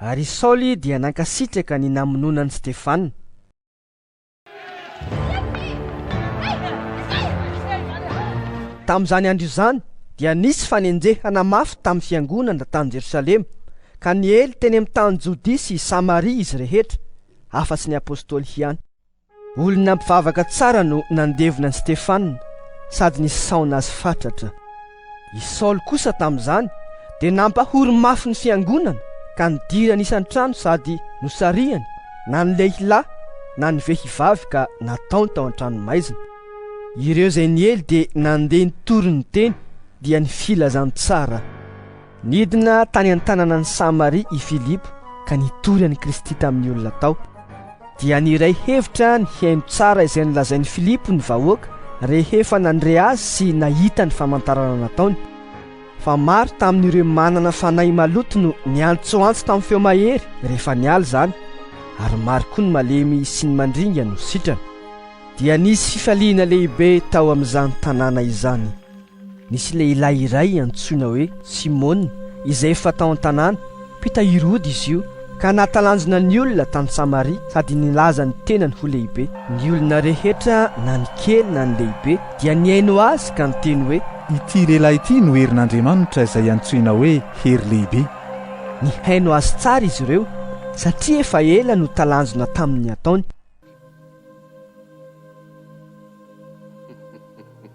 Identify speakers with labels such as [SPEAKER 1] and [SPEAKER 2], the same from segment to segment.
[SPEAKER 1] Ary i Saoly dia nankasitraka ny namonoana an'i Stefana. Tamin'izany andro izany dia nisy fanenjehana mafy tamin'ny fiangonana tany Jerosalema, ka niely teny amin'ny tany Jodia sy Samaria izy rehetra, afa-tsy ny apostoly ihany. Olona mpivavaka tsara no nandevina an'i Stefana sady nisaona azy fatratra. I Saoly kosa tamin'izany dia nampahory mafy ny fiangonana ka nidirany isan-trano sady nosarihany na ny lehilahy na ny vehivavy ka nataony tao an-tranomaizina. Ireo izay niely dia nandeha nitory ny teny dia ny filazantsara. Nidina tany an-tananan'i Samaria i Filipo ka nitory an'i Kristy tamin'ny olona tao. Dia niray hevitra ny hihaino tsara izay nolazain'i Filipo ny vahoaka rehefa nandre azy sy nahita ny famantarana nataony. Fa maro tamin'ireo manana fanahy maloto no niantsoantso tamin'ny feo mahery rehefa niala izany, ary maro koa ny malemy sy ny mandringa no sitrana. Dia nisy fifaliana lehibe tao amin'izany tanàna izany. Nisy lehilahy iray antsoina hoe Simona, izay efa tao an-tanàna. Mpitahiry ody izy io, ka nahatalanjona ny olona tany Samaria sady nilaza ny tenany ho lehibe. Ny olona rehetra, na ny kely na ny lehibe, dia nihaino azy ka niteny hoe. Ity lehilahy ity
[SPEAKER 2] no herin'Andriamanitra izay antsoina hoe Hery Lehibe. Nihaino
[SPEAKER 1] azy tsara izy ireo, satria efa ela no talanjona tamin'ny ataony.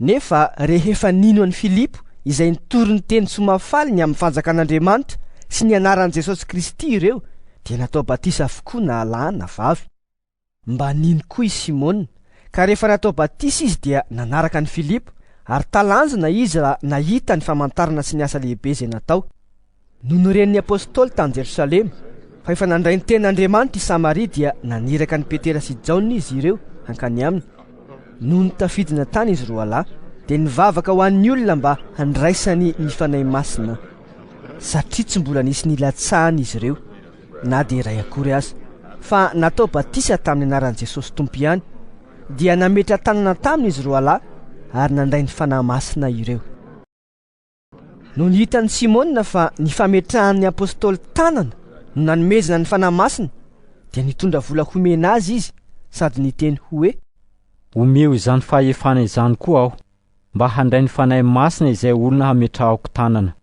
[SPEAKER 1] Nefa rehefa nino an'i Filipo izay nitory ny teny soa mahafaly ny amin'ny Fanjakan'Andriamanitra sy ny anaran'i Jesosy Kristy ireo, dia natao batisa avokoa na lahy na vavy. Mba nino koa i Simona, ka rehefa natao batisa izy dia nanaraka an'i Filipo, ary talanjona izy raha nahita ny famantarana sy ny asa lehibe izay natao. Nony noren'ny apostoly tany Jerosalema fa efa nandray ny tenin'Andriamanitra i Samaria dia naniraka an'i Petera sy Jaona izy ireo hankany aminy. Nony tafidina tany izy roa lahy dia nivavaka ho an'ny olona mba handraisany ny Fanahy Masina satria tsy mbola nisy nilatsahany izy ireo na dia iray akory aza fa natao batisa tamin'ny anaran'i Jesosy Tompo ihany dia nametra-tanana taminy izy roa lahy ary nandray ny Fanahy Masina ireo. Nony hitan'i Simona fa ny fametrahan'ny apostoly tanana no nanomezana ny Fanahy Masina, dia nitondra vola homena azy izy sady niteny hoe, Omeo
[SPEAKER 3] izany fahefana izany koa aho, mba handray ny Fanahy Masina izay olona hametrahako tanana.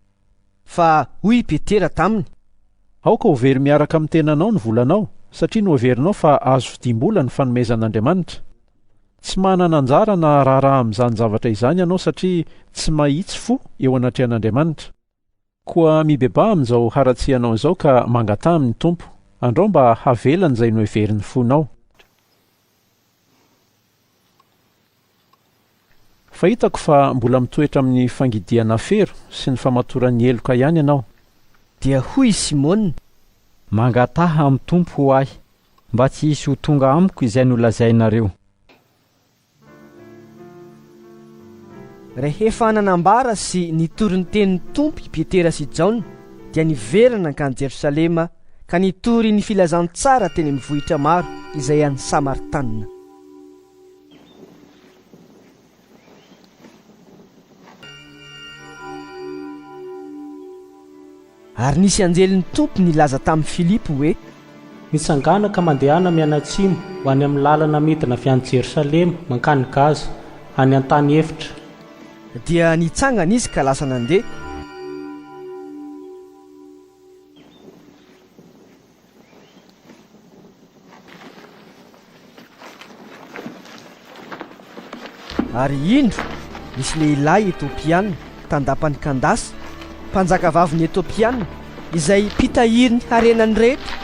[SPEAKER 3] Fa
[SPEAKER 1] hoy i Petera taminy. Aoka ho
[SPEAKER 4] very miaraka amin'ny tenanao ny volanao, satria noheverinao fa azo vidiam-bola ny fanomezan'Andriamanitra. Tsy manana anjara na raharaha amin'izany zavatra izany ianao satria tsy mahitsy fo eo anatrehan'Andriamanitra. Koa mibebaha amin'izao haratsianao izao ka mangataha amin'ny Tompo, andrao mba havelany izay noheverin'ny fonao. Fa hitako fa mbola mitoetra amin'ny fangidiana fero sy ny famatoran'ny heloka ihany ianao. Dia hoy
[SPEAKER 1] i Simona, Mangataha
[SPEAKER 3] amin'ny Tompo ho ahy, mba tsy hisy ho tonga amiko izay nolazainareo.
[SPEAKER 1] Rehefa nanambara sy nitory ny tenin'ny Tompo i Petera sy Jaona, dia niverina nankany Jerosalema ka nitory ny filazantsara teny amin'ny vohitra maro izay any Samartana. Ary nisy anjelin'ny Tompo nilaza tamin'i Filipo hoe. Mitsangàna
[SPEAKER 5] ka mandehana mianatsimo ho any amin'ny làlana midina avy any Jerosalema mankany Gaza, any an-tany efitra. Dia
[SPEAKER 1] nitsangana izy ka lasa nandeha. Ary indro nisy lehilahy Etopiana tandapany Kandasa, mpanjakavavin'ny Etopiana, izay mpitahirin'ny harenany rehetra,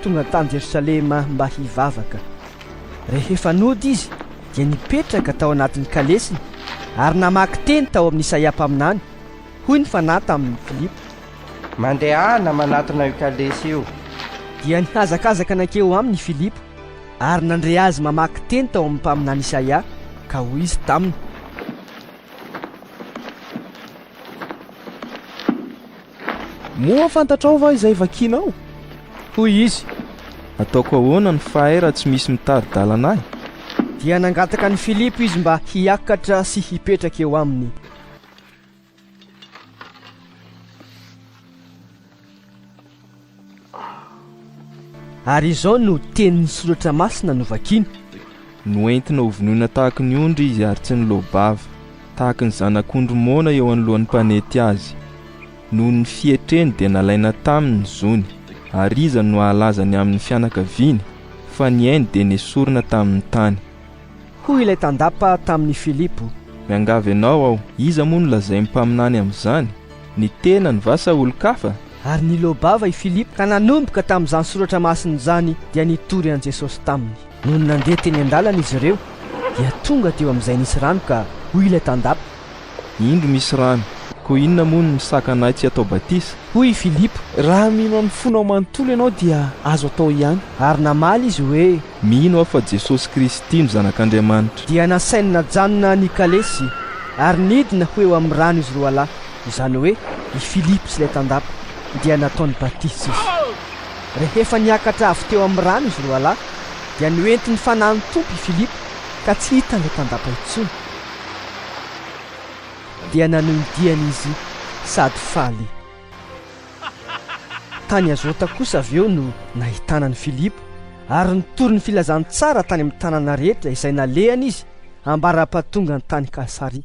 [SPEAKER 1] tonga tany Jerosalema mba hivavaka. Rehefa nody izy dia nipetraka tao anatin'ny kalesiny ary namaky teny tao amin'Isaia mpaminany, Hoy ny Fanahy tamin'i Filipo. Mandehana
[SPEAKER 6] manatona io kalesy io. Dia
[SPEAKER 1] nihazakazaka nankeo aminy i Filipo ary nandre azy mamaky teny tao amin'ny mpaminany Isaia, ka hoy izy taminy.
[SPEAKER 7] Moa fantatrao va izay vakinao? Hoy izy.
[SPEAKER 1] Ataoko
[SPEAKER 7] ahoana ny fahay raha tsy misy mitari-dalana ahy? Dia nangataka
[SPEAKER 1] an'i Filipo izy mba hiakatra sy hipetraka eo aminy. Ary izao no tenin'ny soratra masina novakiny. Noentina
[SPEAKER 7] ho vonoina tahaka ny ondry izy ary tsy niloa-bava, tahaka ny zanak'ondry moana eo anoloan'ny mpanety azy. Noho ny fietreny dia nalaina taminy ny zony, ary iza no hahalaza ny amin'ny fianakaviany? Fa ny ainy dia nesorina tamin'ny tany. Hoy ilay
[SPEAKER 1] tandapa tamin'i Filipo. Miangavy anao
[SPEAKER 7] aho, iza moa no lazain'ny mpaminany amin'izany? Ny tenany va sa olon-kafa? Ary nileo-bava
[SPEAKER 1] i Filipo ka nanomboka tamin'izany soratra masina izany dia nitory an'i Jesosy taminy. Nony nandeha teny an-dalana izy ireo dia tonga teo amin'izay nisy rano ka hoy ilay tandapa. Indro misy
[SPEAKER 7] rano, koa inona moa no misakana ahy tsy hatao batisa? Hoy i Filipo.
[SPEAKER 1] Raha mino amin'ny
[SPEAKER 7] fonao manontolo ianao dia azo atao ihany. Ary namaly izy
[SPEAKER 1] hoe. Mino aho fa
[SPEAKER 7] Jesosy Kristy no Zanak'Andriamanitra. Dia nasainy
[SPEAKER 1] najanona ny kalesy ary nidina ho eo amin'ny rano izy roalahy, izany hoe i Filipo sy ilay tandapa, dia nataony batisa izy. Rehefa niakatra avy teo amin'ny rano izy roalahy, dia noentin'ny Fanahin'ny Tompo i Filipo ka tsy hitan'ilay tandapa intsony. Dia nanohy ny diany izy sady faly. Tany Azota kosa avy eo no nahitana an'i Filipo, ary nitory ny filazantsara tany amin'ny tanàna rehetra izay nalehany izy, ambara-pahatongany tany Kasaria.